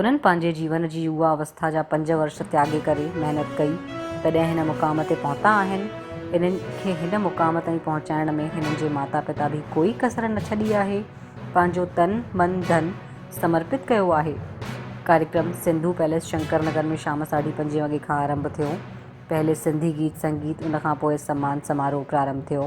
انهن پنهنجي جيون جي يووا اوسٿا جا پنج ورش تياڳي ڪري محنت ڪئي تڏهن هن مقام تي پهتا آهن. انهن کي هن مقام تائين پهچائڻ ۾ هنن جي ماتا پتا به ڪوئي ڪسر نه ڇڏي آهي. پنهنجو تن، من، ڌن سمرپت ڪيو آهي. ڪاريڪرم سنڌو پئليس شنڪر نگر ۾ شام ساڍي پنجين وڳي کان آرنڀ ٿيو. پهرين سنڌي گيت سنگيت ان کان پوء سمان سماروهه پرارنڀ ٿيو.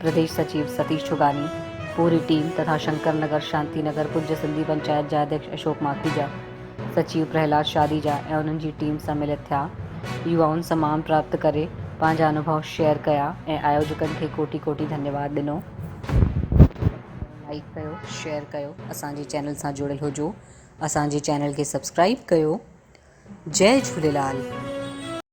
پرديش سچيو ستيش ڇوڳاني، پوري ٽيم تٿا شنڪر نگر شانتي نگر پڄ سنڌي پنچائت جا اڌيڪش اشوڪ ماکيجا، سچيو پرهلاد شاديجا ۽ انهن جي ٽيم سان ملت ٿيا. يوائن سان مان پراپت ڪري پنهنجا انوڀو شيئر ڪيا ۽ آيوجڪن کي ڪوٽي ڪوٽي ڌنيواد ڏنو. لائيڪ ڪيو شيئر ڪيو اسان جي چينل سان جڙيل هجو اسان جي چينل کي سبسڪرائيب ڪيو جئي جهوليلال.